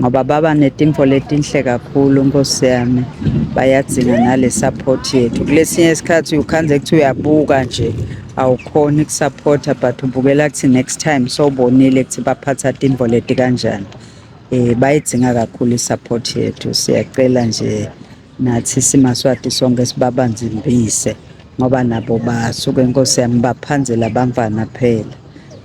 ngoba baba netimfo letinhle kakhulu nkosi yami bayadzinga nale support yethu kulesinye isikhathi ukhanze kuthi uyabuka nje awukhoni kusupporta but ubukela kuthi next time sowubonile kuthi baphatha timfo leti kanjani um bayidzinga kakhulu i-support yethu siyacela nje nathi simaswati sonke sibabanzimbise ngoba nabo basuke nkosi yami baphanzela bamvana phela